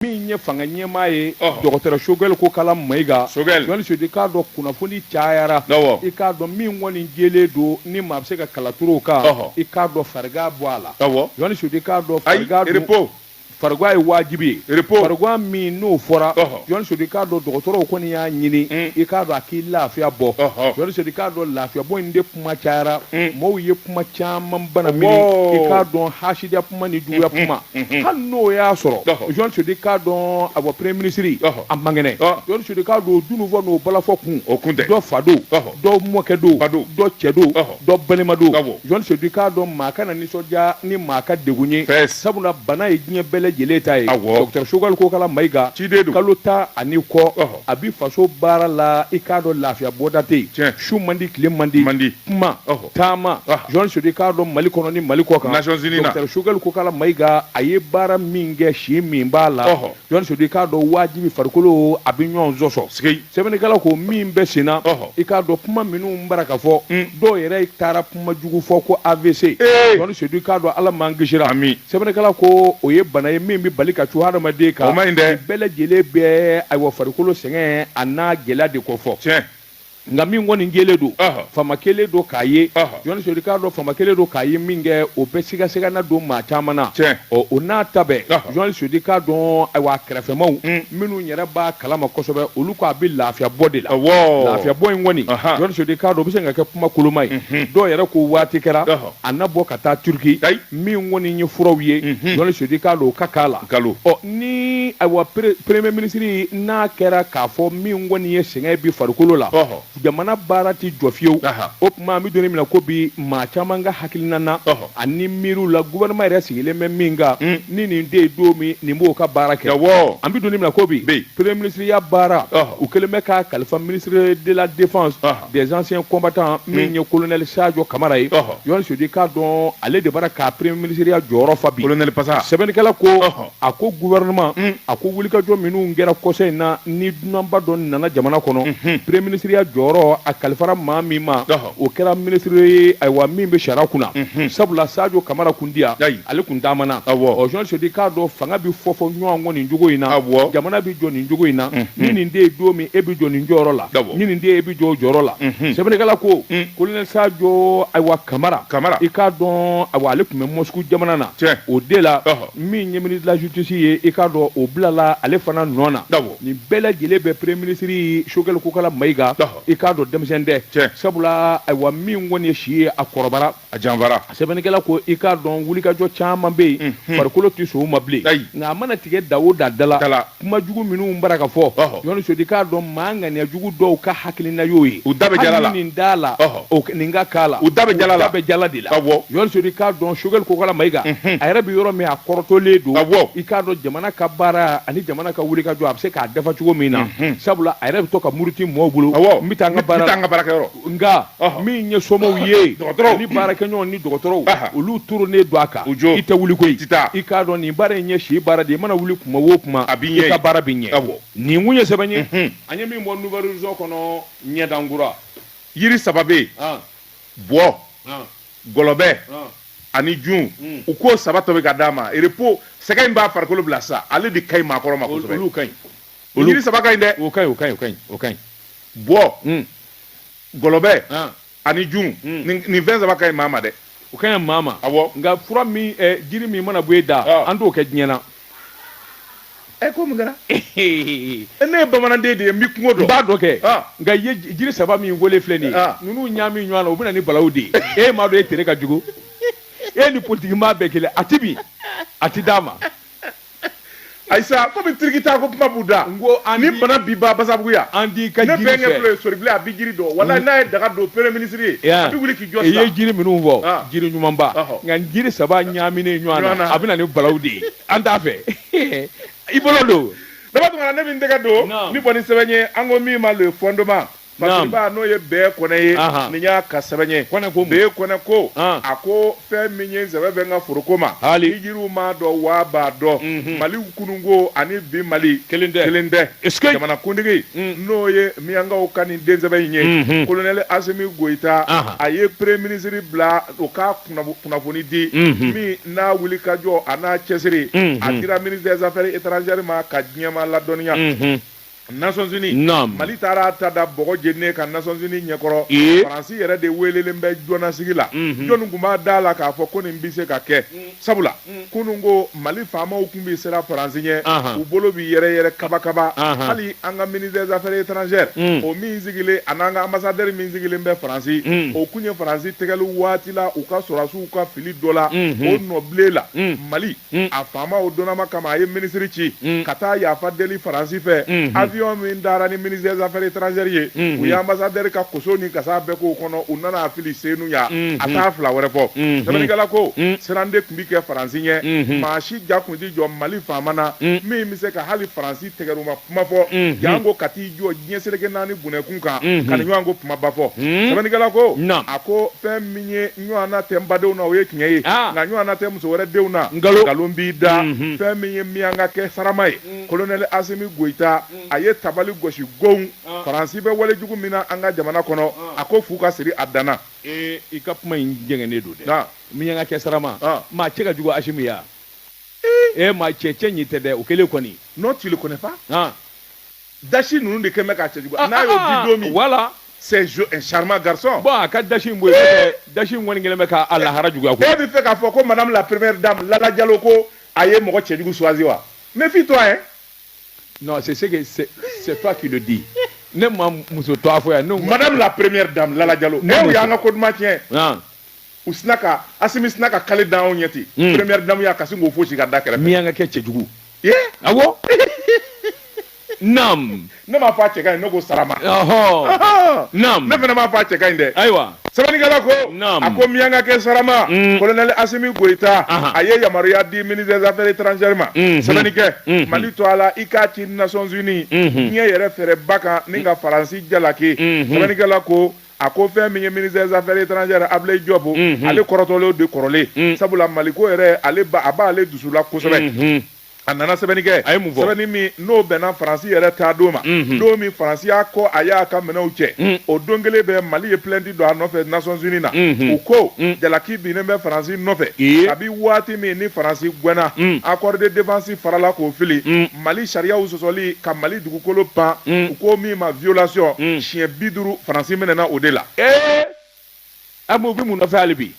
min ye fanga ɲɛmaa ye dɔgɔtɔrɔ sogɛli kokala mayiga sodi k'a dɔn kunnafoni cayara i k'a dɔn min kɔni jɛlen don ni maa bɛ se ka kala turu o kan i k'a dɔn farigan b'a la sodi k'a dɔn farigan ye wajibi ye min n'o fɔra sodi k'a dɔn dɔgɔtɔrɔw kɔni y'a ɲini i k'a dɔn a k'i lafiya bɔ sodi k'a dɔn lafiya bɔ in kuma cayara mm. maaw ye kuma caman bana mi i k'a dɔn hasidiya kuma ni juguya mm, kuma mm, hali n'o y'a sɔrɔ jɔn sudi k'a dɔn ayiwa premier minisiri a man kɛnɛ jɔn sudi k'a dɔn dunun fɔ n'o balafɔ kun o kun dɔ fa don dɔ mɔkɛ don dɔ cɛ don dɔ balima don jɔn sudi k'a dɔn maa kana nisɔndiya ni maa ka degun ye sabula bana ye diɲɛ bɛɛ lajɛlen ta ye dɔgɔtɔrɔ sogɛli kokala mayiga kalo tan ani kɔ a bɛ faso baara la i k'a dɔn lafiya bɔda tɛ yen Tiɲɛ. su man di tile man di Man di. kuma Ɔhɔ. taama Ah. jɔn sudi k'a dɔn mali kɔnɔ ni mali kɔkan Nations Unies na. Dɔkitɛri sogɛli kokala mayiga a ye baara min kɛ si min b'a la Ɔhɔ. jɔn sudi k'a dɔn wajibi farikolo a bɛ ɲɔgɔn sɔsɔ Sikei. sɛbɛnnikɛla ko min bɛ sen na Ɔhɔ. i k'a dɔn kuma minnu bara ka fɔ Mm. dɔw yɛrɛ taara kuma jugu fɔ ko avc Ee! jɔn sudi k'a dɔn ala m'an kisira Ami. sɛbɛnnikɛla ko o ye bana ye min bɛ bali ka cun hadamaden kan, o ma ɲi dɛ, bɛɛ lajɛlen bɛ ayiwa farikolo sɛgɛn an'a gɛlɛya de kofɔ, tiɲɛ, nka min kɔni jɛlen don, ɔhɔ, fama kɛlen don k'a ye, ɔhɔ, Jɔni Sori k'a dɔn fama kɛlen don k'a ye min kɛ o bɛ sigasigana don maa caman na, tiɲɛ, ɔ o n'a ta bɛɛ, ɔhɔ, Jɔni Sori k'a dɔn ayiwa a kɛrɛfɛmaw, un, minnu yɛrɛ b'a kalama kosɛbɛ olu ko a bɛ lafiya bɔ de la, awɔ, lafiya bɔ in kɔni, ɔhɔ, Jɔni Sori k'a dɔn o bɛ se ka kɛ kuma koloma ye, unhun, dɔw yɛrɛ ko waati kɛra, ɔhɔ. a na bɔ ka taa turki Ayi. min kɔni ye furaw ye Mhm. jɔni sodi k'a dɔn o ka k'a la Nkalon. ɔ ni ayiwa pre- premier minisiri n'a kɛra k'a fɔ min kɔni ye sɛgɛn bi farikolo la Ɔhɔ. jamana baara ti jɔ fiyewu Aha. o tuma an bɛ don min na ko bi maa caman ka hakilina na Ɔhɔ. ani miiriw la gouvernement yɛrɛ sigilen bɛ min kan Mm. ni nin tɛ yen don min nin b'o ka baara kɛ Awɔ. an bɛ don min na ko bi Bi. premier minisiriya baara Ɔhɔ. u kɛlen bɛ k'a kalifa minisiri de la défense Ɔhɔ. des anciens combattants min ye kolonɛli sajɔ kamara ye jɔn sudi k'a dɔn ale de bara ka premier minisiriya jɔyɔrɔ fa bi pasa sɛbɛnnikɛla ko a ko gouvernement a ko wulikajɔ minnu kɛra kɔsa in na ni dunanba dɔ nana jamana kɔnɔ premier minisiriya jɔyɔrɔ a kalifara maa min ma o kɛra minisiri ye ayiwa min bɛ sariya kunna sabula sajɔ kamara kun ti yan ale tun taama na jɔn sodi k'a dɔn fanga bɛ fofo ɲɔgɔn kɔ nin cogo in na jamana bɛ jɔ nin cogo in na ni nin tɛ yen don min e bɛ jɔ nin jɔyɔrɔ la Awɔ. ni nin tɛ yen e bɛ jɔ o jɔyɔrɔ la Unhun. sɛbɛnnikɛla ko Mm. kolonɛli sajɔ ayiwa kamara Kamara. i k'a dɔn ayiwa ale tun bɛ mɔsuku jamana na Tiɲɛ. o de la Ɔhɔ. min ye minisiri de la justice ye i k'a dɔn o bilala ale fana nɔ na Awɔ. nin bɛɛ lajɛlen bɛ premier minisiri sogɛli kokala mayiga Ɔhɔ. i k'a dɔn denmisɛn tɛ Tiɲɛ. sabula ayiwa min kɔni ye si ye a kɔrɔbara a janfara sɛbɛnnikɛla ko i k'a dɔn wulikajɔ caman bɛ yen farikolo tɛ sɔn o ma bilen nka a mana tigɛ da o da dala kuma jugu minnu bara ka fɔ ɲɔni sodi k'a dɔn maa ŋaniya jugu dɔw ka hakilina y'o ye u da jala nin da la nin ka k'a la u da bɛ jala bɛ jala de la ɲɔni sodi k'a dɔn Sogɛli Kokala Mayiga a yɛrɛ bɛ yɔrɔ min a kɔrɔtɔlen don i k'a dɔn jamana ka baara ani jamana ka wulikajɔ a bɛ se k'a dafa cogo min na sabula a yɛrɛ bɛ to ka muruti maaw bolo n bɛ taa n ka baara ka bara nka min ye somaw ye ni baarakɛɲɔgɔn ni dɔgɔtɔrɔw olu turunen don a kan i tɛ wuli koyi i k'a dɔn nin baara in ye si baara de i mana wuli kuma o kuma i ka baara bɛ ɲɛ nin kun ye sɛbɛn ye an ye min bɔ nouvel horizon kɔnɔ ɲɛdankura yiri saba bɛ yen bɔ gɔlɔbɛ ani jun u k'o saba tobi ka d'a ma repos sɛgɛn in b'a farikolo bila sa ale de ka ɲi maakɔrɔ ma kosɛbɛ olu saba ka ɲi dɛ o ka ɲi bɔ gɔlɔbɛ ani jun nin fɛn saba ka ɲi maa ma dɛ o ka ɲi maa ma nka fura min jiri min mana bɔ e da an t'o kɛ diɲɛ na e ko mun kɛra ne ye bamananden de ye n bɛ kungo dɔn n b'a dɔn kɛ nka i ye jiri saba min weele filɛ nin ninnu ɲaami ɲɔgɔn na o bɛ na ni balaw de ye e m'a dɔn e tere ka jugu e ni politigi maa bɛɛ kelen a tɛ min a tɛ d'a ma ayisa komi tirikita ko kuma b'u da Nko an ni di- bana bi ba basabuguya an di ka ne jiri bɛnkɛ fɛ. filɛ ye soribilen a bɛ jiri dɔn wala n'a ye daga don premier ministre ye a bɛ wuli k'i jɔ i ye sisan jiri minnu fɔ Ah. jiri ɲumanba Ɔhɔ. nka nin jiri saba ɲaaminen ɲɔgɔn Ɲɔgɔn na na. a bɛ na ni balaw de ye an t'a fɛ i bolo don daba tuma na ne bɛ n tɛgɛ don Naam. nin bɔnni sɛbɛn ye an ko min ma le fondement Naam. Masiriba n'o ye Be Kɔnɛ ye Ahan. nin y'a ka sɛbɛn ye Kɔnɛ ko mun? Be Kɔnɛ ko An. a ko fɛn min ye sɛbɛn bɛ n ka foroko ma Hali. ni jiriw m'a dɔn waa b'a dɔn Mhm. mali kununko ani bi mali Kelen tɛ. kelen tɛ Est-ce que- jamanakuntigi Mm. n'o ye minyankaw ka nin den sɛbɛ in ye Mhm. kolonɛli asimi goyita Ahan. a ye premier ministre bila o ka kunnafo- kunnafoni di Mhm. min n'a wulikajɔ an'a cɛsiri Mhm. a dira ministre des affaires étrangères ma ka diɲɛ maa ladɔnniya Mhm. Nations Unies Naam. Mali taara a ta da bɔgɔ jeninen kan Nations Unies ɲɛkɔrɔ Ee. Faransi yɛrɛ de weelelen bɛ jɔnnasigi la Mhm. jɔni tun b'a da la k'a fɔ ko nin bɛ se ka kɛ sabula kununko Mali faamaw tun bɛ siran Faransi ɲɛ Ahan. u bolo bɛ yɛrɛyɛrɛ kabakaba Ahan. hali an ka ministre des affaires étrangères Mm. o min sigilen ani an ka ambassadeur min sigilen bɛ Faransi Mm. o kun ye Faransi tɛgɛli waati la u ka sɔrɔdasiw ka fili dɔ la Mhm. o nɔbilen la Mm. Mali Mm. a faamaw donnama kama a ye minisiri ci mm. ka taa yafa deli faransi fɛ mm-hmm. avion min dara ni ministre des affaires étrangères ye mm-hmm. u ye ambassadeur ka koso ni kasa bɛɛ k'o kɔnɔ u nana a fili Senu yan mm-hmm. a t'a fila wɛrɛ fɔ sɛbɛnnikɛla ko mm. siran de tun bi kɛ faransi ɲɛ maa si ja kun ti jɔ mali faama na min bɛ se ka hali faransi tɛgɛruma kuma fɔ janko ka t'i jɔ diɲɛ seleke naani bunɛkun kan ka nin ɲɔgɔn ko kumaba fɔ sɛbɛnnikɛla ko a ko fɛn min ye ɲɔgɔnna tɛ n badenw na o ye tiɲɛ ye ah. nka ɲɔgɔnna tɛ muso wɛrɛ denw na nkalon b'i da mhm. fɛn min ye miyanka kɛ sarama ye mm. kolonɛli asimi goyita mm. a ye tabali gosi gon ah. faransi bɛ wale jugu min na an ka jamana kɔnɔ ah. a ko fu ka siri a dan na eh, i ka kuma in jɛngɛnnen don dɛ miyanka kɛ sarama maa cɛ ka jugu asimi ya ee eh, maa cɛ cɛ ɲi tɛ dɛ o kelen kɔni non tu le connais pas dasi ninnu de kɛlen bɛ k'a cɛ jugu, n'a y'o ah, di don min voilà c'est un charmant garçon bon a ka dasi in bɔ yen dasi in kɔni kɛlen bɛ k'a lahara juguya ko e b'a fɛ k'a fɔ ko madame la première dame Lala Diallo ko a ye mɔgɔ cɛjugu choisi wa méfie toi hein non c'est ce que c'est c'est toi qui le dis ne ma muso tɔgɔ fɔ yan madame la première dame Lala Diallo ne y'an ka ko duman tiɲɛ u sinna ka asimi sinna ka kale dan anw ɲɛ ten hmm. première dame y'a kasi k'o fosi ka da kɛrɛfɛ miyanka kɛ cɛjugu ye awɔ nam ne m'a fɔ a cɛ ka ɲi ne ko sarama nam ne fana m'a fɔ a cɛ ka ɲi dɛ ayiwa sɛbɛnnikɛla ko a ko miyanka kɛ sarama hmm. kolonɛli asimi goyita a ye yamaruya di ministre des affaires étrangères ma hmm. sɛbɛnni kɛ mali tɔgɔ la i k'a ci nations unies diɲɛ yɛrɛ fɛrɛba kan n'i ka faransi jalaki sɛbɛnnikɛla ko a ko fɛn min ye ministre des affaires étrangères Ablaye Diop unhun, ale kɔrɔtɔlen de kɔrɔlen mm. sabula Mali ko yɛrɛ ale ba a b'ale dusu la kosɛbɛ mm-hmm. a nana sɛbɛnni kɛ a ye mun fɔ sɛbɛnni min n'o bɛnna faransi yɛrɛ taa don ma mm-hmm. don min faransi y'a kɔ a y'a ka minɛnw cɛ mm. o don kelen bɛ mali ye plainte don a nɔfɛ nations unis na mm-hmm. u ko mm. jalaki binnen bɛ faransi nɔfɛ kabi waati min ni faransi gwɛnna accord de défense farala k'o fili mali sariyaw sɔsɔli ka mali dugukolo pan u ko min ma violation siɲɛ bi duuru faransi minɛna o de la an b'u bɛ mun nɔfɛ hali bi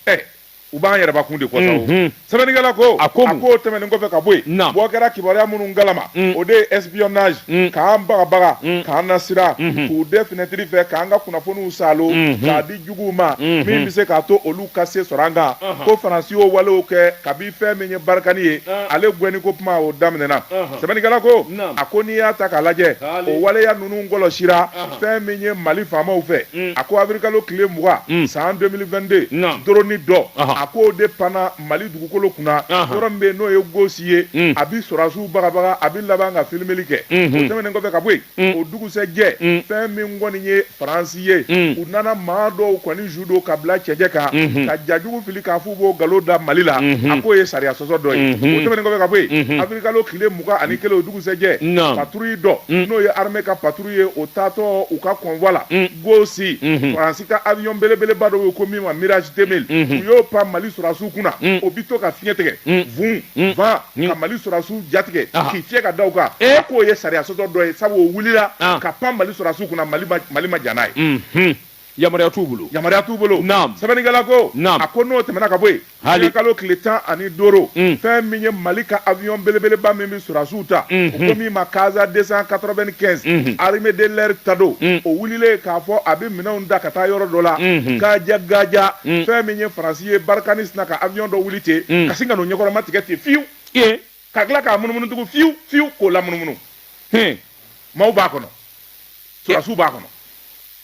u b'an yɛrɛbakun de kɔsɔn sɛbɛnnikɛla ko a ko a k'o tɛmɛnen kɔfɛ ka bɔ yen bɔ kɛra kibaruya minnu kalama o de ye espionnage k'an bagabaga k'an nasiran k'u dɛn finɛtiri fɛ k'an ka kunnafoniw salo k'a di juguw ma min bɛ se k'a to olu ka se sɔrɔ an kan ko faransi y'o walew kɛ kabi fɛn min ye barikani ye ale gɛnni ko kuma o daminɛna sɛbɛnnikɛla ko a ko n'i y'a ta k'a lajɛ o waleya ninnu kɔlɔsira fɛn min ye mali faamaw fɛ mm. a ko awirilikalo tile mugan mm. san 2022 doroni dɔ a k'o de panna mali dugukolo kunna yɔrɔ min bɛ yen n'o ye gosi ye mm. a bi sɔrɔdasiw bagabaga a bi laban ka filimeli kɛ o tɛmɛnen kɔfɛ ka bɔ yen Mm. o dugusɛjɛ mm. fɛn min kɔni ye faransi ye mm. u nana maa dɔw kɔni su don ka bila cɛncɛn kan mm-hmm. ka ja jugu fili k'a f'u b'o nkalon da mali la mm-hmm. a k'o ye sariya sɔsɔ dɔ ye mm-hmm. o tɛmɛnen kɔfɛ ka bɔ yen awirilikalo tile mugan ani kelen o dugusɛjɛ patrouille dɔ n'o ye armée ka patrouille ye o taatɔ u ka convoi la gosi faransi ka avion belebeleba dɔ ye ko min ma mirage 2000 u y'o pan mali sɔrɔdasiw kunna o bi to ka fiɲɛ tigɛ vun van ka mali sɔrɔdasiw jatigɛ k'i fiyɛ ka da u kan a k'o ye sariya sɔsɔ dɔ ye sabu o wulila ka pan mali sɔrɔdasiw kunna mali ma jɛn n'a ye yamaruya t'u bolo yamaruya t'u bolo sɛbɛnnikɛla ko a ko n'o tɛmɛna ka bɔ yen awirilikalo tile tan ani duuru fɛn min ye mali ka avion belebeleba min bɛ sɔrɔdasiw ta o ko min ma casa 295 armée de l'air ta don o wulilen k'a fɔ a bɛ minɛnw da ka taa yɔrɔ dɔ la kaja gaja fɛn min ye faransi ye barikani sina ka avion dɔ wuli ten mm. ka sin ka n'o ɲɛkɔrɔma tigɛ ten fiyewu ka tila k'a munumunu tugun fiyewu fiyewu k'o lamunumunu maaw b'a kɔnɔ sɔrɔsiw b'a kɔnɔ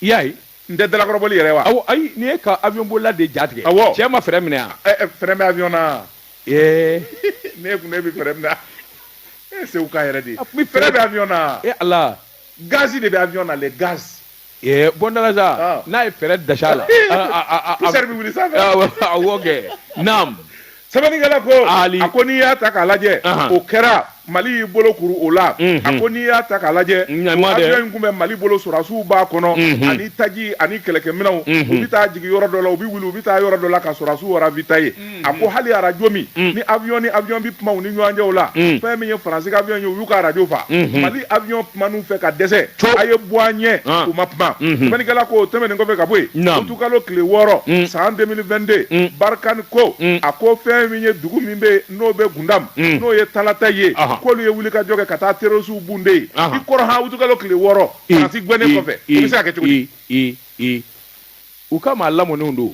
i y'a ye nin tɛ dalakɔrɔbɔli yɛrɛ wa awɔ ayi nin ye ka avion bolila de ja tigɛ awɔ cɛ ma frein minɛ a eh, eh, frein bɛ avion na ee ne kun ne bɛ frein minɛ e seguka yɛrɛ de frein bɛ avion na e ala gazi de bɛ avion na le gaz Ee bɔnda n'a ye frein da sa la poussière bɛ wuli sanfɛ awɔ kɛ naam sɛbɛnnikɛla ko a ko n'i y'a ta k'a lajɛ o kɛra mali y'i bolo kuru o la a ko n'i y'a ta k'a lajɛ avion in kun bɛ mali bolo sɔrɔsiw b'a kɔnɔ ani taji ani kɛlɛkɛminɛnw u bɛ taa jigin yɔrɔ dɔ la u bɛ wuli u bɛ taa yɔrɔ dɔ la ka sɔrɔsiw ravitailler a ko hali arajo min ni avion ni avion bɛ kuma u ni ɲɔgɔn cɛ o la fɛn min ye faransi ka avion ye u y'u ka arajo fa mali avion kuman'u fɛ ka dɛsɛ a ye bɔ an ɲɛ u ma kuma sɛbɛnnikɛla ko o tɛmɛnen kɔfɛ ka bɔ yen utukalo tile wɔɔrɔ san 2022 barikani ko a ko fɛn min ye dugu min bɛ n'o bɛ gundam n'o ye talatayi ye k'olu ye wulikajɔ kɛ ka taa terrorisiw bunde yen i kɔrɔ han utukalo tile wɔɔrɔ faransi gɛnnen kɔfɛ o bɛ se ka kɛ cogo di U ka maa lamɔnenw don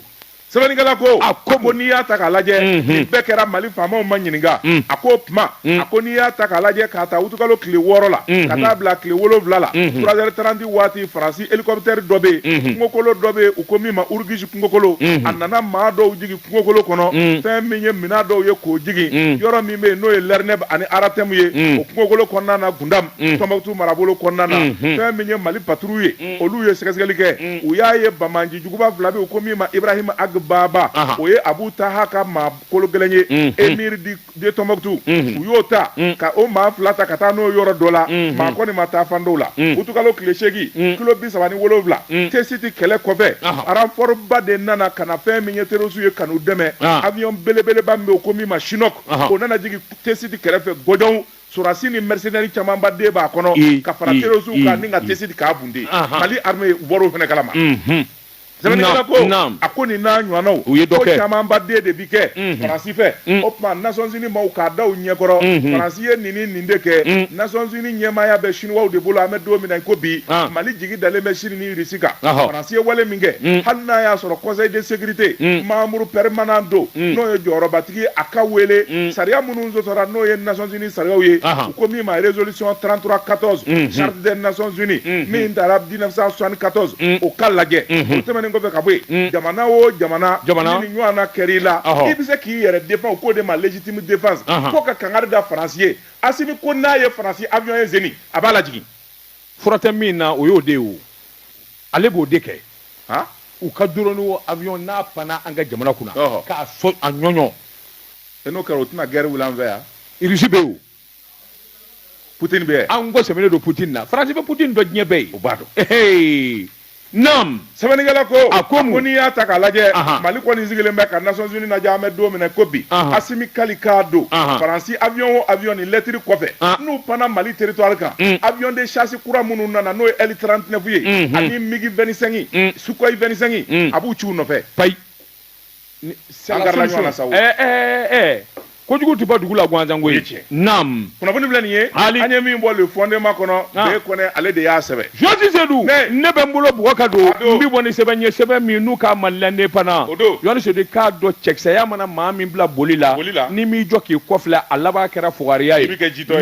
sɛbɛnnikɛla ko a ko bon n'i y'a ta k'a lajɛ mhm. nin bɛɛ kɛra mali faamaw ma ɲininka mm. a ko o tuma mm. a ko n'i y'a ta k'a lajɛ k'a ta wutukalo tile wɔɔrɔ la mhm. ka taa bila tile wolonwula la mhm. trois heures trente waati faransi helikɔpitɛri dɔ bɛ yen kungokolo dɔ bɛ yen u ko min ma urugisi kungokolo a nana maa dɔw jigin kungokolo kɔnɔ mm. fɛn min ye minɛn dɔw ye k'o jigin yɔrɔ min bɛ yen n'o ye lɛrinɛb ani aratɛmu ye o kungokolo kɔnɔna na gundam tɔnbɔkutu marabolo kɔnɔna na fɛn min ye mali patrouille ye olu ye sɛgɛsɛgɛli kɛ u y'a ye banbaanci juguba fila bɛ yen u ko min ma ibrahima ag baba o ye abu taha ka maa kolo gɛlɛn ye émir de tɔnbɔkutu u y'o ta ka o maa fila ta ka taa n'o yɔrɔ dɔ la maa kɔni ma taafan dɔn o la utukalo tile seegin kilo bi saba ni wolonwula tesiti kɛlɛ kɔfɛ renfort ba de nana ka na fɛn min ye terrorisiw ye ka n'u dɛmɛ avion belebeleba min bɛ yen u ko min ma chinook o nana jigin tesiti kɛrɛfɛ gɔdɔn Sɔrɔdasi ni mercenaires camanba de b'a kɔnɔ Ii, ka fara ii, terrorisiw ii, kan ni ka ii. tesiti k'a bunte Ahan. Mali armée u bɔr'o fana kalama Mhm. Sɛbɛnnikɛla Naam, ko naam. a ko nin n'a ɲɔgɔnnaw U ye dɔ ko kɛ. camanba de bi kɛ Mhm. Faransi fɛ Mm. o tuma Nations Unies maaw k'a da u ɲɛkɔrɔ Mhm. Faransi ye nin ni nin de kɛ Mm. Nations Unies ɲɛmaaya bɛ Chinois de bolo an bɛ don min na i ko bi Ah. Mali jigi dalen bɛ Chine ni irisi kan farasi ye wale min kɛ hali n'a y'a sɔrɔ kɔsɔnden de segte mamudu pɛman don n'o ye jɔyɔrɔbatigi a ka weele sariya minnu sɔsɔra n'o ye naonc sariya ye ko min ma rezolisi trantura katɔ sariya naonc min taara diina sɔni katɔz o ka lajɛ tɛmɛn kɔfɛ ka bɔ yen jamana o jamana jamana ni ɲɔgɔn kɛ i la i bɛ se k'i yɛrɛ de k'o de ma jitimu defa fo ka kanga da farasi ye a ko n'a ye farasi abuɔn ye sen a b'a laj fura tɛ min na o y'o de ye o ale b'o de kɛ u ka drone o avion n'a panna an ka jamana kunna k'a so a ɲɔɲɔ n'o kɛra o tɛna gɛrɛ wuli an fɛ yan irisi bɛ yen putin bɛ yen an kɔ sɛmɛnen don putin na faransi bɛ putin dɔn diɲɛ bɛɛ ye o b'a dɔn Naamu sɛbɛnnikɛla ko a ko n'i y'a ta k'a lajɛ mali kɔni sigilen bɛ ka Nations Unies lajɛ an bɛ don min na ko bi asimi kali k'a don faransi avion o avion nin lɛtiri kɔfɛ n'u panna mali territoire kan avion de chasse kura minnu nana n'o ye L trente-neuf ye ani MiG vingt-cinq Sukhoi vingt-cinq a b'u ci u nɔfɛ payi kojugu tɛ bɔ dugu la gansan koyi naamu kunnafoni filɛ nin ye an ye min bɔ Le Fondement kɔnɔ B kone ale de y'a sɛbɛn jɔnni sedu ne bɛ n bolo bugɔ ka don n bɛ bɔ ni sɛbɛn ye sɛbɛn min n'u ka malilɛnden fana jɔnni sedu i k'a dɔn cɛkisɛya mana maa min bila boli la n'i m'i jɔ k'i kɔfilɛ a laban kɛra fugariya ye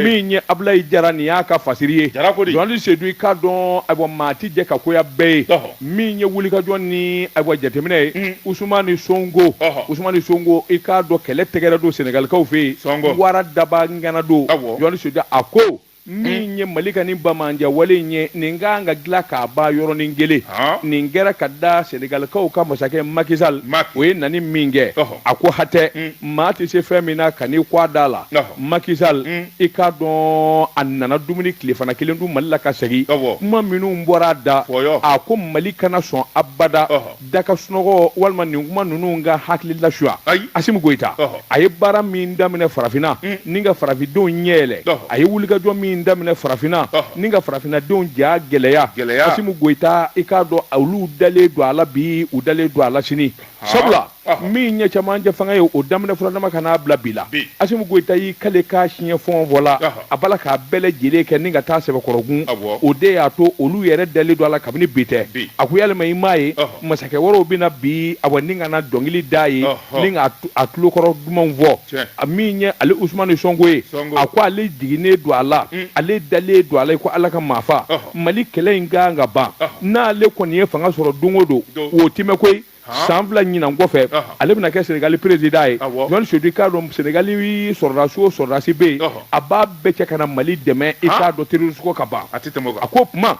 min ye abulayi jara nin y'a ka fasiri ye jɔnni sedu i k'a dɔn ah bon maa ti jɛ ka koya bɛɛ ye min ye wulikajɔ ni a jateminɛ ye usumani sonko usumani sonko i k'a dɔn kɛlɛ tɛgɛrɛ don sɛnɛgalikaw fɛ yen wara daba ngana don jɔnni sedu a ko min ye mali ka ni bamananjan wale in ye nin ka kan ka dilan k'a ban yɔrɔnin kelen nin kɛra ka da sɛnɛgalikaw ka masakɛ maki sal o ye nani min kɛ a ko hatɛ mm. maa tɛ se fɛn min na kan'i kɔ a da la maki sal mm. i k'a dɔn a nana dumuni tilefana kelen dun mali la ka segin kuma minnu bɔra a da a ko mali kana sɔn abada da ka sunɔgɔ walima nin kuma ninnu k'a hakili lasuya asimi goyita a ye baara min daminɛ farafinna mm. ni ka farafindenw ɲɛ yɛlɛ a ye wulikajɔ min daminɛ farafinna ni ka farafinnadenw ja gɛlɛya asimi goyita i k'a dɔn olu dalen don a la bi u dalen don a la sini sabula min ye camancɛ fanga ye o daminɛ furadama ka n'a bila bi la asimi goyita y'i kali k'a siɲɛ fɔɔn fɔ la a b'a la k'a bɛɛ lajɛlen kɛ ni ka taa sɛbɛkɔrɔkun o de y'a to olu yɛrɛ dalen don a la kabini bi tɛ a ko yalima i m'a ye masakɛ wɛrɛw bɛ na bi a ni ka na dɔnkili da ye ni ka a tulokɔrɔ dumanw fɔ a min ye ale usumani sɔnko ye a ko ale jiginnen don a la ale dalen don a la ko ala ka maafa mali kɛlɛ in ka kan ka ban n'ale kɔni ye fanga sɔrɔ don o don o tɛ mɛɛn koyi san fila ɲinan kɔfɛ ale bɛna kɛ senegali perezidan ye jɔn sedu i k'a dɔn senegali sɔrɔdasi o sɔrɔdasi bɛ yen a b'a bɛɛ cɛ ka na mali dɛmɛ i k'a dɔn terɔrisi ko ka ban a ko kuma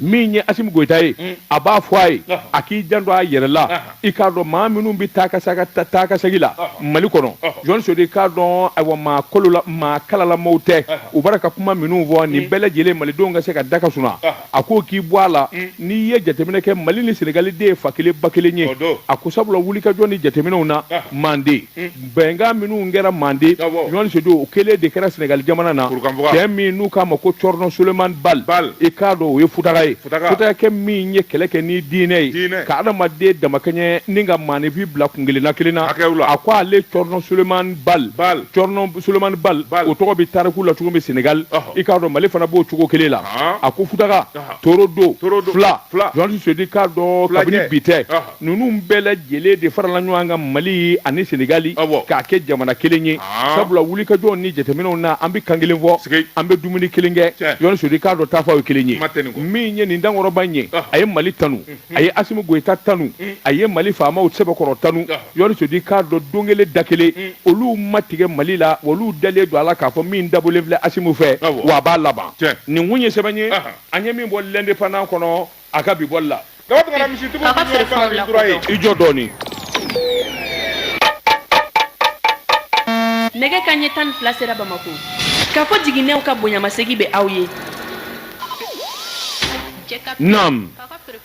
min ye asimi goyita ye a b'a fɔ a ye a k'i janto a yɛrɛ la i k'a dɔn maa minnu bɛ taa ka segin la mali kɔnɔ jɔn sedu i k'a dɔn ayiwa maa kalalamaw tɛ u bɔra ka kuma minnu fɔ nin bɛɛ lajɛlen malidenw ka se ka da ka sun a ko k'i bɔ a la mm. n'i ye jateminɛ kɛ mali ni senegali de ye fa kelen ba kelen ye a ko sabula wulikajɔ ni jateminɛw na ah. manden mm. bɛnkan minnu kɛra manden jɔn sedu o kelen de kɛra senegali jamana na cɛ min n'u k'a ma ko cɔrɔnɔ soleman bal i k'a dɔn o ye futaka ye futakɛ min ye kɛlɛ kɛ ni diinɛ ye ka adamaden damakɛɲɛ ni ka maanifin bila kun kelenna kelen na a ko ale cɔrɔnɔ soleman bal Solomani Bal o tɔgɔ bɛ tariku la cogo min Senegal i k'a dɔn Mali fana b'o cogo kelen la a ko Futaka Torodo Fula Jɔn Sedu i k'a dɔn kabini bi tɛ ninnu bɛɛ lajɛlen de farala ɲɔgɔn kan Mali ani Senegal k'a kɛ jamana kelen ye sabula wulikajɔw ni jateminɛw na an bɛ kan kelen fɔ an bɛ dumuni kelen kɛ Jɔn Sedu i k'a dɔn taafew ye kelen ye min ye nin dankɔrɔba in ye a ye Mali tanu. a ye asimi goyita tanu a ye mali faama sɛbɛkɔrɔ tanu jɔn sedu i k'a dɔn don kelen da kelen olu ma tigɛ mali la olu dalen don a la k'a fɔ min dabɔlen filɛ asimi fɛ wa a b'a laban nin kun ye sɛbɛn ye an ye min bɔ l'indépendant kɔnɔ a ka bi bɔli la i jɔ dɔɔnin nɛgɛ kanɲɛ tan ni fila sera bamakɔ kafo jiginɛw ka bonyamasegin bɛ aw ye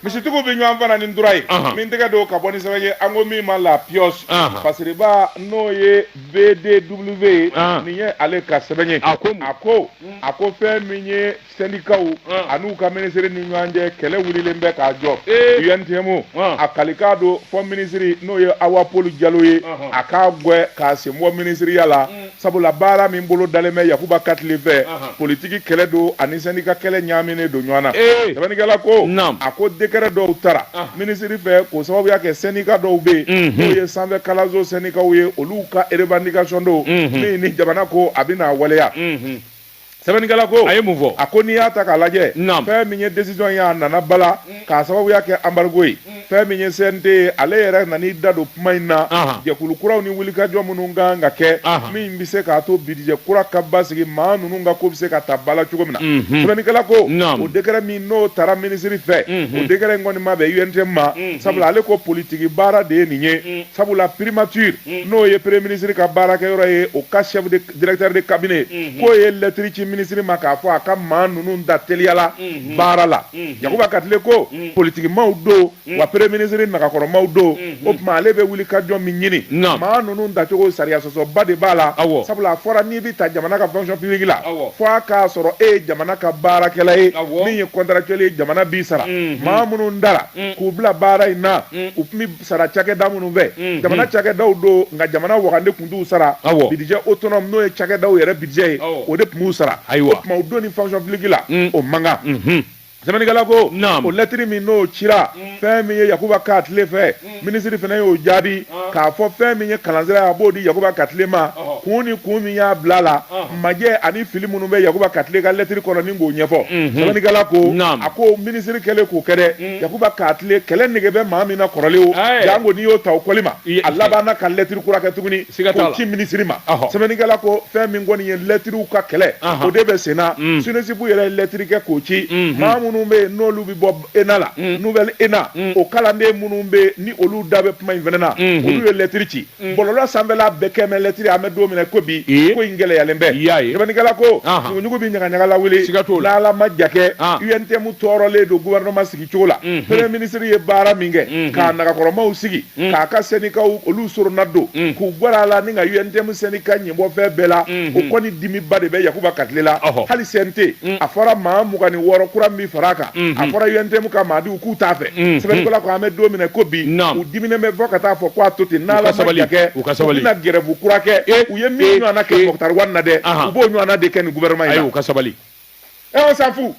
misitigiw bɛ ɲɔgɔn fana ni tura ye min tɛgɛ don ka bɔ ni sɛbɛn ye an ko min ma la piyɔsi pasiriba n'o ye bdw ye nin ye ale ka sɛbɛn ye a ko a ko a ko fɛn min ye sɛndikaw ani'u ka minisiri ni ɲɔgɔn cɛ kɛlɛ wililen bɛ k'a jɔ untm a kalikan don fɔ minisiri n'o ye awa pɔli jalo ye a k'a gɛn k'a sen bɔ minisiriya la sabula baara min bolo dalen bɛ yakuba katile fɛ politiki kɛlɛ don ani sɛndika kɛlɛ ɲaaminen don ɲɔgɔn na sɛbɛnnikɛla ko a ko dekɛrɛ dɔw tara minisiri fɛ k'o sababuya kɛ sɛndika dɔw bɛ yen n'o ye sanfɛ kalanso sɛndikaw ye olu ka erebandikasɔn don min ni jamana ko a bɛna waleya sɛbɛnnikɛla ko a ye mun fɔ a ko n'i y'a ta k'a lajɛ fɛn min ye desizɔn ye a nana bala mm. k'a sababuya kɛ anbarigo ye mm. fɛn min ye cnt ye ale yɛrɛ nan'i da don kuma in na jɛkulu kuraw ni wulikajɔ minnu kan ka kɛ min bɛ se k'a to bidijɛ kura ka basigi maa ninnu ka ko bɛ se ka ta ba la cogo min na mm-hmm. sɛbɛnnikɛla ko o dekɛrɛ min n'o tara minisiri fɛ mm-hmm. o dekɛrɛ in kɔni ma bɛn untm ma mm-hmm. sabula ale ko politiki baara de ye nin ye mm. sabula primature n'o ye premier minisiri ka baarakɛyɔrɔ ye o ka chef de directeur de cabinet k'o ye lɛtiri ci minisiri ma k'a fɔ a ka maa ninnu da teliyala baara la Yakuba Katile ko politikimaw don wa premier minisiri nagakɔrɔmaw don o tuma ale bɛ wuli ka jɔn min ɲini Naam. maa ninnu dacogo sariya sɔsɔba de b'a la Awɔ. sabula a fɔra n'i bɛ ta jamana ka fonction publique la Awɔ. fo a k'a sɔrɔ e ye jamana ka baarakɛla ye Awɔ. min ye contractuel ye jamana b'i sara maa minnu dara k'u bila baara in na u tun bɛ sara cakɛda minnu fɛ mm-hmm. jamana cakɛdaw don nka jamana wagande tun t'u sara bidijɛ autonome n'o ye cakɛdaw yɛrɛ bidijɛ ye o de tun b'u sara o tuma u donni fonction publique la mm. o man kan mm-hmm. sɛbɛnnikɛla ko o lɛtiri min n'o cira mm. fɛn min ye yakuba katile fɛ mm. minisiri fana y'o jaabi ah. k'a fɔ fɛn min ye kalansira a b'o di yakuba katile ma kun ni kun min y'a bila la majɛ ani fili minnu bɛ yakuba katile ka lɛtiri kɔnɔ ni k'o ɲɛfɔ sɛbɛnnikɛla ko a ko minisiri kɛlen k'o kɛ dɛ yakuba katile kɛlɛ nege bɛ maa min na kɔrɔlen o janko n'i y'o ta o kɔli ma a labanna ka lɛtiri kura kɛ tuguni k'o ci minisiri ma sɛbɛnnikɛla ko fɛn min kɔni ye lɛtiriw ka kɛlɛ o de bɛ senna SNESUP yɛrɛ ye lɛtiri kɛ k'o ci maa minnu bɛ yen n'olu bɛ bɔ ena la nouvelle ena o kalanden minnu bɛ ni olu da bɛ kuma in fana na olu ye lɛtiri ci Mm. bɔlɔlɔ sanfɛla bɛɛ kɛmɛ lɛtiri an bɛ don min na ko bi ko in gɛlɛyalen bɛ sɛbɛnnikɛla ko ɲuguɲugu bɛ ɲagaɲaga lawuli n'ala ma ja kɛ UNTM tɔɔrɔlen don gouvernement sigi cogo la mm-hmm. premier ministre ye baara min kɛ mm-hmm. k'a nagakɔrɔmaw sigi mm. k'a ka sɛndikaw olu soronadon mm. k'u gwɛrɛ a la ni ka UNTM sɛndika ɲɛbɔ fɛn bɛɛ la mm-hmm. o kɔni dimiba de bɛ yakuba katile la hali CNT a fɔra maa mugan ni wɔɔrɔ kura min fara a kan a fɔra UNTM ka maa k'u t'a fɛ mm, sɛbɛnnikɛla mm. ko an bɛ don min na ko bi u diminen bɛ fo ka taa fɔ ko a to ten n'ala ma ja kɛ u bɛna gɛrɛbu kura kɛ eh, u ye min eh, ɲɔgɔnna kɛ eh. Moctar Ouane na dɛ u b'o ɲɔgɔnna de kɛ nin gouvernement in na ayi u ka sabali ɛ on s'en fout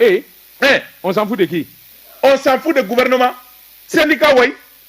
ee ɛ on s'en fout de qui on s'en fout de gouvernement syndicat wayi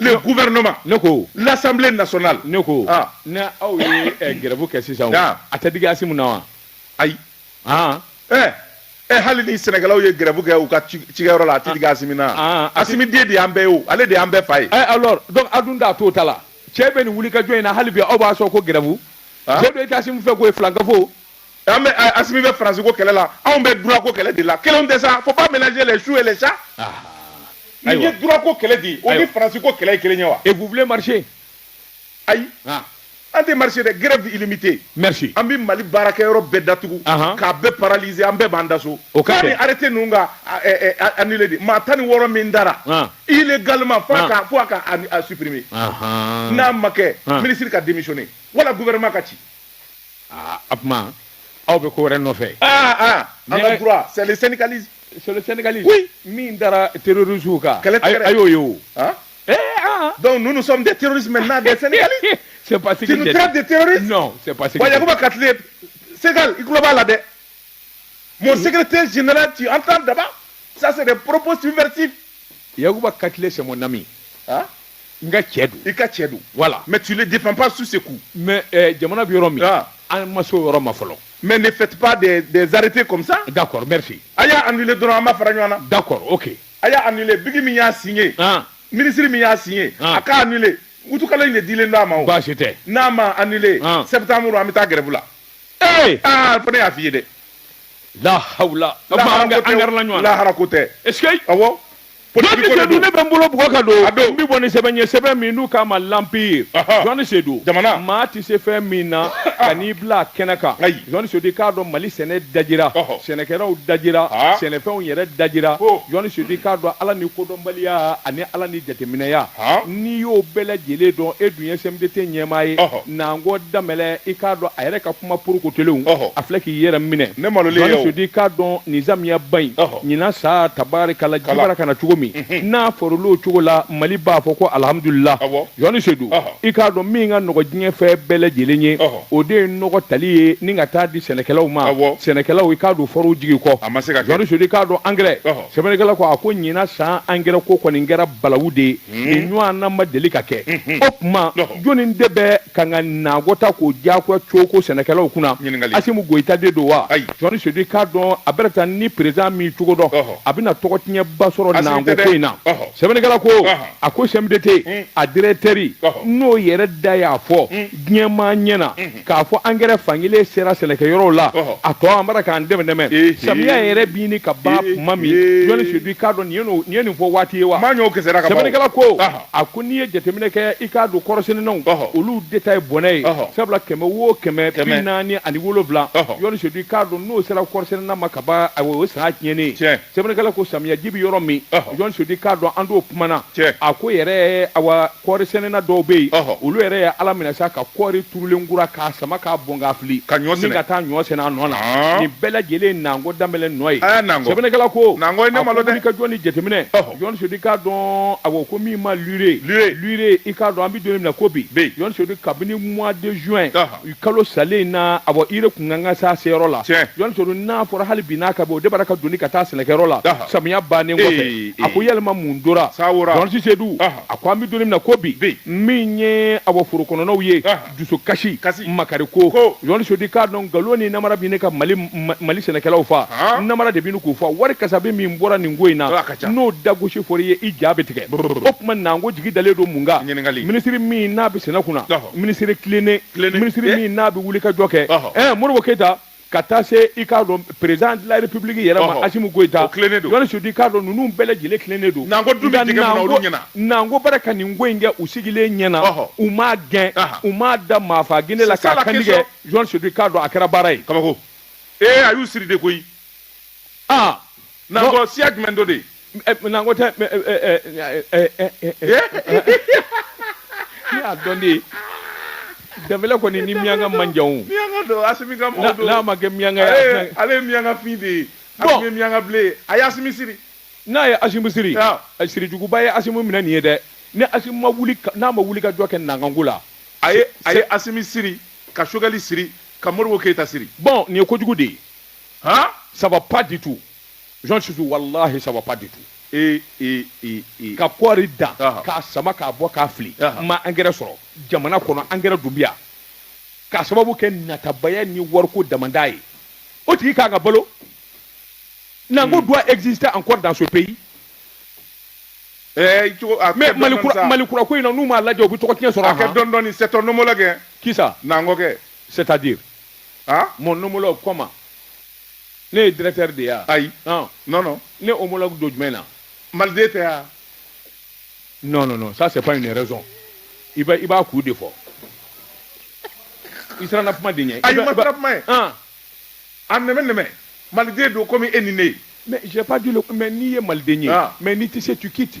le gouvernement ne ko l'assemblée nationale ne ko ah. ni aw ye eh, gɛrɛbu kɛ sisan o ah. a tɛ digi asimu na wa ayi ah. eh. eh, hali ni sɛnɛkɛlaw ye gɛrɛbu kɛ u ka cikɛyɔrɔ la a tɛ digi asimi na ah, ah, asimi den de y'an bɛɛ ye o ale de y'an bɛɛ fa ye eh, alors donc a dun da t'o ta la cɛ bɛ nin wulikajɔ in na hali bi aw b'a sɔn ko gɛrɛbu cɛ don i tɛ asimu fɛ k'o ye filankafo an bɛ asimi bɛ faransi ko kɛlɛ la anw bɛ droit ko kɛlɛ de la kelen tɛ sa faut pas mélanger les choux et les chats nin ye droit ko kɛlɛ de ye o ni faransi ko kɛlɛ kelen ye wa et vous voulez marcher ayi an tɛ marcher dɛ grève illimitée merci an bɛ mali baarakɛyɔrɔ bɛɛ datugu k'a bɛɛ paralyser an bɛɛ b'an da so o ka ni arrêté ninnu ka annuler de maa tan ni wɔɔrɔ min dara illégalement fo a ka supprimer n'a ma kɛ minisiri ka démissionner wala gouvernement ka ci aa a tuma aw bɛ ko wɛrɛ nɔfɛ aa aa an ka droit c'est le syndicalisme c'est le syndicalisme oui min dara terroristes kan kɛlɛ tɛgɛrɛ a y'o ye o ah eh ah donc nous nous sommes des terroristes maintenant des syndicalistes c'est pas ce que tu nous traites de terroristes non c'est pas ce que wa Yakuba Katile Segal i tulo b'a la dɛ mon secrétaire général tu entends d'abord ça c'est des propos subversifs Yakuba katile c'est mon ami ah n ka cɛ don i ka cɛ don voilà mais tu le défends pas sur ce coup mais eh, jamana bɛ yɔrɔ min ah. an ma se o yɔrɔ ma fɔlɔ mais ne faites pas des, des arrêtés comme ça d'accord merci a y'a annulé dɔrɔn an b'a fara ɲɔgɔn na d'accord ok a y'a annulé bigi min y'a signé ah. ministre min y'a signé ah. a k'a annulé utikalo in de dilen don a ma o baasi tɛ n'a ma annulé ah. septembre an bɛ taa grève la ee aa fo ne y'a f'i ye dɛ la hawla o tuma an ka an gɛrɛla ɲɔgɔn na lahara ko tɛ est ce que awɔ jɔnni politiki ko de sedu ne don bɛ n bolo bugɔ ka don A don. n bɛ bɔ ni sɛbɛn ye sɛbɛn min n'u k'a ma l'Empire Aha. jɔnni sedu Jamana. maa tɛ se fɛn min na kan'i bila a kɛnɛ kan Ayi. jɔnni sedu i k'a dɔn mali sɛnɛ dajira Ɔhɔ. sɛnɛkɛlaw dajira Ah. sɛnɛfɛnw yɛrɛ dajira Ko. jɔnni sedu i k'a dɔn ala ni kodɔnbaliya ani ala ni jateminɛya Ah. n'i y'o bɛɛ lajɛlen dɔn e dun ye CMDT ɲɛmaa ye Ɔhɔ. Nango Danbɛlɛ i k'a dɔn a yɛrɛ ka kuma porokotolenw a filɛ k'i yɛrɛ minɛ jɔnni sedu i k'a dɔn nin samiyaba in ɲinan san tabarikala ji bara ka na cogo min n'a foro olu cogo la mali b'a fɔ ko alihamdulila jɔnni sedu i k'a dɔn min ka nɔgɔ diɲɛ fɛn bɛɛ lajɛlen ye o de ye nɔgɔ tali ye ni ka taa di sɛnɛkɛlaw ma sɛnɛkɛlaw i k'a don forow jigi kɔ a ma se ka jɔnni sedu i k'a dɔn angɛrɛ sɛbɛnnikɛla ko a ko ɲinan san angɛrɛ ko kɔni kɛra balawu de ye nin ɲɔgɔnna ma deli ka kɛ o tuma jɔnni de bɛ ka ka Nango ta k'o diyagoya cogo sɛnɛkɛlaw kunna asimu goyita de don wa jɔnni sedu i k'a dɔn a bɛ taa ni président min cogo dɔn a bɛna tɔgɔ tiɲɛba sɔrɔ Nango ko in na sɛbɛnnikɛla ko a ko CMDT a directeur n'o yɛrɛ da y'a fɔ diɲɛmaa ɲɛ na k'a fɔ angɛrɛ fankelen sera sɛnɛkɛyɔrɔw la a tɔ an bara k'an dɛmɛ dɛmɛ samiya yɛrɛ bi ɲini ka ban tuma min jɔnni sedu i k'a dɔn nin ye nin fɔ waati ye wa maa ɲɔgɔn kisɛra ka ban sɛbɛnnikɛla ko a ko n'i ye jateminɛ kɛ i k'a dɔn kɔɔrisɛnɛnaw olu de ta ye bɔnɛ ye sabula kɛmɛ wo kɛmɛ bi naani ani wolonwula jɔnni sedu i k'a dɔn n'o sera kɔɔrisɛnɛna ma ka ban o ye san tiɲɛnen ye sɛbɛnnikɛla ko samiyaji bɛ yɔrɔ min jɔnni sedu i k'a dɔn an t'o kumana a ko yɛrɛ awa kɔɔri sɛnɛna dɔw bɛ yen olu yɛrɛ ye ala minɛ sa ka kɔɔri turulen kura k'a sama k'a bɔn k'a fili ni ka taa ɲɔ sɛnɛ a nɔ na nin bɛɛ lajɛlen Nango Danbɛlɛ nɔ ye sɛbɛnnikɛla ko a ka jɔ ni jateminɛ jɔnni sedu i k'a dɔn a ko min ma livré livré i k'a dɔn an bɛ don min na ko bi jɔnni sedu kabini mois de juin juin kalo salen in na a bɔ i yɛrɛ kun kan ka s'a seyɔrɔ la Jɔnni Seydou n'a fɔra hali bi n'a ka bɔ o de bara k'a doni ka taa sɛnɛkɛyɔrɔ la samiya bannen kɔfɛ a ko yɛlɛma mun tora Jɔnni Seydou a ko an bɛ don min na ko bi min ye awɔ foro kɔnɔnaw ye dusu kasi makari ko Jɔnni Seydou i k'a dɔn nkalon ni namara bɛ ɲini ka mali sɛnɛkɛlaw faa namara de bɛ k'u faa wari kasabi min bɔra nin ko in na ka ca n'o dagosi fɔra i ye i ja bɛ tigɛ o tuma nango jigi dalen don mun kan minisiri min n'a bɛ sɛnɛ kunna minisiri tilennen minisiri min n'a bɛ wuli ka jɔ kɛ ɛɛ modibo keyita ka taa se i k'a dɔn président de la république yɛrɛ ma asimu goyita Jɔnni Seydou i k'a dɔn ninnu bɛɛ lajɛlen tilennen don nango bara ka nin ko in kɛ u sigilen ɲɛ na u m'a gɛn u m'a da maafa kɛnɛ la k'a kan tigɛ Jɔnni Seydou i k'a dɔn a kɛra baara ye kabako ee a y'u siri de koyi aa nango siya jumɛn don de. nango tɛ ɛ ɛ ɛ ɛ ɛ ɛ. ne y'a dɔn de danbɛlɛ kɔni ni miyanka man jan o. miyanka don asimi ka mɔgɔ don n'a ma kɛ miyanka ye. ale ye miyanka fin de ye. bɔn asimi ye miyanka bilen ye a ye asimi siri. n'a ye asimu siri sirijuguba ye asimu minɛ nin ye dɛ ni asimu ma wuli n'a ma wuli ka jɔ kɛ nango ko la a ye a ye asimi siri ka Choguel siri ka modibo keyita siri bɔn nin ye kojugu de ye Hein Ça va pas du tout. Jɔnni Seydou, wallahi, ça va pas du tout. Et, et, et, et. Ka kɔɔri dan, Aha. k'a sama k'a bɔ k'a fili. Aha. N ma angɛrɛ sɔrɔ. Jamana kɔnɔ angɛrɛ dun bɛ yan. K'a sababu kɛ natabaya ni wariko damanda ye. O tigi ka kan ka balo. Nango Hmm. doit exister encore dans ce pays. Eh, cogo- a Mais kɛ Mali dɔɔni-dɔɔni kura sa. Mali kura ko in na n'u m'a lajɛ u bɛ tɔgɔ tiɲɛ sɔrɔ. A kɛ han. dɔɔni-dɔɔni, c'est ton homologue, hein. Qui ça? Nango kɛ. C'est-à-dire? aa mon homologue comment ne ye directeur de ye a ayi ah. non non ne homologue don jumɛn na maliden tɛ a non non non ça c'est pas une raison i b'a i b'a kun de fɔ i siranna kuma de ɲɛ ayi n ma siran kuma ɲɛ ah. a nɛmɛ nɛmɛ maliden don komi e ni ne ye mais j'ai pas dit le mais n'i ye maliden ye ah. mais n'i tɛ se tu quittes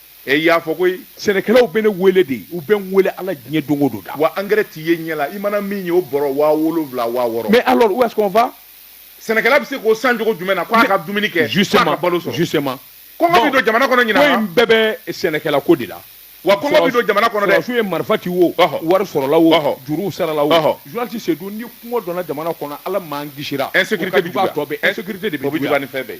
E y'a fɔ ko sɛnɛkɛlaw bɛ ne wele de u bɛ n wele ala diɲɛ don go don da wa angɛrɛ tɛ ye ɲɛ la i mana min ye o bɔrɔ waa wolonwula waa wɔɔrɔ mais alors où est-ce qu'on va sɛnɛkɛla bɛ se k'o san cogo jumɛn na k'a ka dumuni kɛ ka balo sɔrɔ justement kɔngɔ bɛ don jamana kɔnɔ ɲinan koyi an bɛɛ bɛ sɛnɛkɛla kɔ de la wa kɔngɔ bɛ don jamana kɔnɔ su ye marifatigi wo wari sɔrɔla o juru sarala wo journaliste Seydou ni kɔngɔ donna jamana kɔnɔ ala m'an kisira insécurité de bɛ fɛn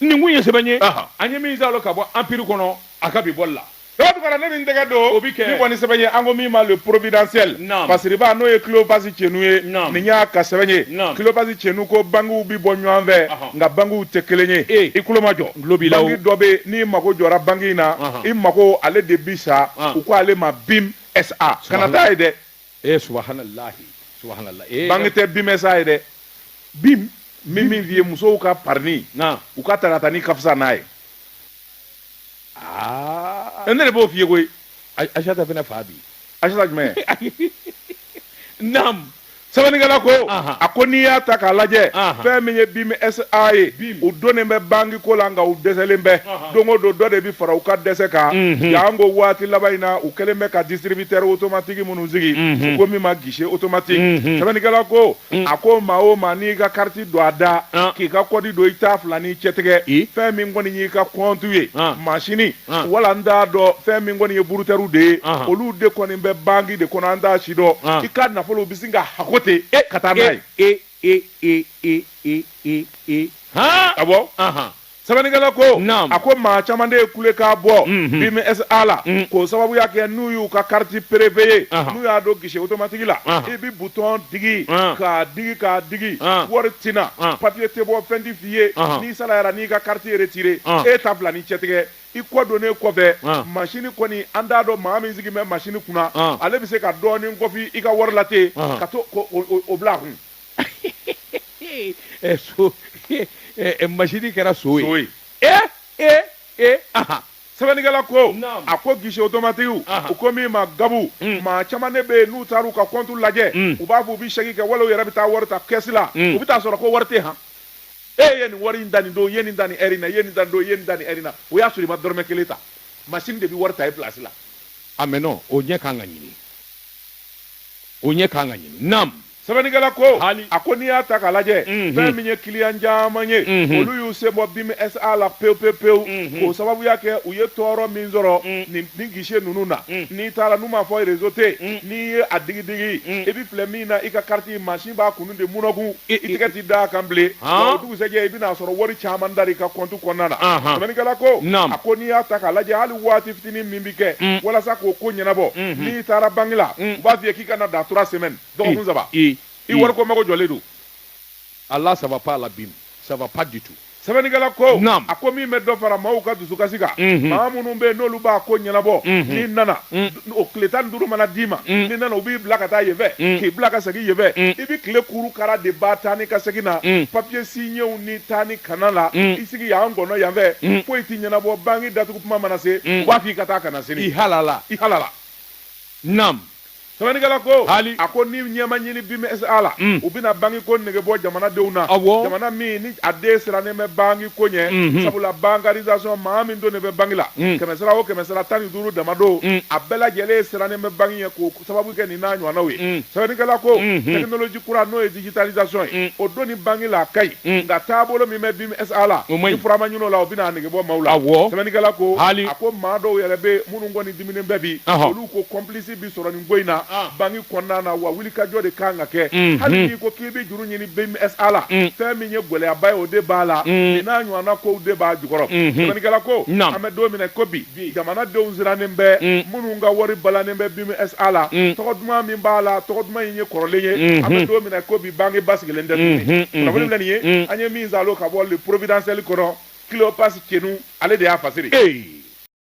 nin kun ye sɛbɛn ye an ye min zalo ka bɔ anpiri kɔnɔ a ka bi bɔ la tugara ne min tɛgɛ don o bɛ kɛ kɔni sɛbɛn ye an ko min ma le providentiel masiriba n'o ye Cléophas Tiénou ye nin y'a ka sɛbɛn ye Cléophas Tiénou ko bankiw bɛ bɔ ɲɔgɔn fɛ nka bankiw tɛ kelen ye e i tulo majɔ banki dɔ bɛ n'i mago jɔra banki in na i mago ale de bi sa u ko ale ma BIM SA kana taa yen dɛ e subahanallahi subahanallahi e banki tɛ BIM SA ye dɛ bim min min f'i ye musow ka parinin u ka taratanin ka fisa n'a ye aa ne de b'o f'i ye koyi asata fana fa bi asata jumɛn nam sɛbɛnnikɛla ko a ko n'i y'a ta k'a lajɛ fɛn min ye BIM SA ye u donnen bɛ bankiko la nka u dɛsɛlen bɛ don o don dɔ de bɛ fara u ka dɛsɛ kan yan ko waati laban in na u kɛlen bɛ ka disiribiteri otomatigi minnu sigi ko min ma gise otomatigi sɛbɛnnikɛla ko a ko maa o maa n'i ka kariti don a da k'i ka kɔdi don i ta fila ni cɛtigɛ fɛn min kɔni y'i ka kɔntu ye masini wala n t'a dɔn fɛn min kɔni ye burutɛriw de ye olu de kɔni bɛ banki de kɔnɔ an t' si dɔn i ka nafolo bɛ sin ka hakɛko ten e ka taa n'a ye e e e e e e e a bɔ sɛbɛnnikɛla ko Naamu. a ko maa caman de ye kulekan bɔ Mhm. BIM SA la Mhm. k'o sababuya kɛ n'u y'u ka kariti perepeye Aha. n'u y'a don gise otomatigi la Aha. i bi butɔn digi Ah. k'a digi k'a digi Ah. wari tina Ah. papiye tɛ bɔ fɛn ti f'i ye Aha. n'i salayara n'i ka kariti retire Ah. e ta fila ni cɛtigɛ i kɔ donnen kɔfɛ Ah. masini kɔni an t'a dɔn maa min sigi bɛ masini kunna Ah. ale bɛ se ka dɔɔnin kɔfi i ka wari la ten Aha. ka to ko o- o- o bila a kun ɛ son ɛ ɛ masini kɛra son ye. son ye. e e e ahan. sɛbɛnnikɛla ko Naam. a ko gise otomatigiw Aha. u ko min ma gabu Mm. maa caman de bɛ yen n'u taara u ka kɔntu lajɛ Mm. u b'a fɔ u bɛ cɛki kɛ wala u yɛrɛ bɛ taa wari ta kɛsi la Mm. u bɛ taa sɔrɔ ko wari tɛ han e ye nin wari in ta nin don i ye nin ta nin ɛri in na i ye nin ta nin don i ye nin ta nin ɛri in na o y'a sɔrɔ i ma dɔrɔmɛ kelen ta masini de bɛ wari ta i pilasi la ah mais non o ɲɛ kan ka ɲini o ɲɛ kan ka ɲini naam sɛbɛnnikɛla ko a ko n'i y'a ta k'a lajɛ fɛn min ye kiliyan caman ye olu y'u sen bɔ BIM SA la pewu pewu pewu k'o sababuya kɛ u ye tɔɔrɔ min sɔrɔ nin nin guichet ninnu na n'i taara n'u m'a fɔ réseau tɛ yen n'i ye a digi digi i bɛ filɛ min na i ka carte masini b'a kunnu de munɔkun i tɛgɛ tɛ da a kan bilen o dugusɛjɛ i bɛna sɔrɔ wari caman tar'i ka compte kɔnɔna na sɛbɛnnikɛla ko a ko n'i y'a ta k'a lajɛ hali waati fitinin min bɛ kɛ walasa k'o ko ɲɛnabɔ n'i taara banque la u b'a f'i ye k'i ka na dans trois semaines dɔgɔkun saba i wari ko mago jɔlen don ah là ça va pas là BIM ça va pas du tout sɛbɛnnikɛla ko a ko min bɛ dɔ fara maaw ka dusukasi kan maa minnu bɛ yen n'olu b'a ko ɲɛnabɔ n'i nana o tile tan duuru mana d'i ma n'i nana u b'i bila ka taa yen fɛ k'i bila ka segin yen fɛ i bɛ tile kuuru kara de ba taa ni ka segin na papiye siɲɛw ni taa ni ka na la i sigi y'an kɔnɔ yanfɛ foyi ti ɲɛnabɔ banki datugu kuma mana se u b'a f'i ka taa ka na sini i halala i halala naamu Sɛbɛnnikɛla ko, haali, a ko ni ɲɛ ma ɲini BMSA la, un, u bɛna banki ko nege bɔ jamana denw na, awɔ, jamana min ni a den sirannen bɛ banki ko ɲɛ, unhun, sabula bankarisation maa min donnen bɛ banki la, un, kɛmɛsara o kɛmɛsara tan ni duuru dama don, un, a bɛɛ lajɛlen sirannen bɛ banki ɲɛ k'o sababu kɛ nin n'a ɲɔgɔnnaw ye, un, sɛbɛnnikɛla ko, unhun, technologie kura n'o ye digitalisation ye, un, o donni banki la a ka ɲi, un, nka taabolo min bɛ BMSA la, o man ɲi, ni fura ma ɲini o la o bɛna a nege bɔ maaw la, awɔ, sɛbɛnnikɛla ko, haali, a ko maa dɔw yɛrɛ bɛ yen minnu kɔni dimininen bɛ bi, ɔhɔ, olu ko complice bi sɔrɔ nin ko in na ah. banki kɔnɔna na wa wulikajɔ de kan ka kɛ mm-hmm. hali n'i ko k'i bɛ juru ɲini BMSA la mm. fɛn min ye gɛlɛyaba ye o de b'a la mm. nin n'a ɲɔgɔnna kow de b'a jukɔrɔ mm-hmm. sɛbɛnnikɛla ko an bɛ don min na ko bi jamanadenw sirannen bɛ mm. minnu ka wari balannen bɛ BMSA la tɔgɔ duman min b'a la tɔgɔ duman in ye kɔrɔlen ye mm-hmm. an bɛ don min na ko bi banki basigilen tɛ tuguni kunnafoni filɛ nin ye an ye min zalo ka bɔ le providentiel kɔnɔ Cleopas Cenu ale de y'a fasiri.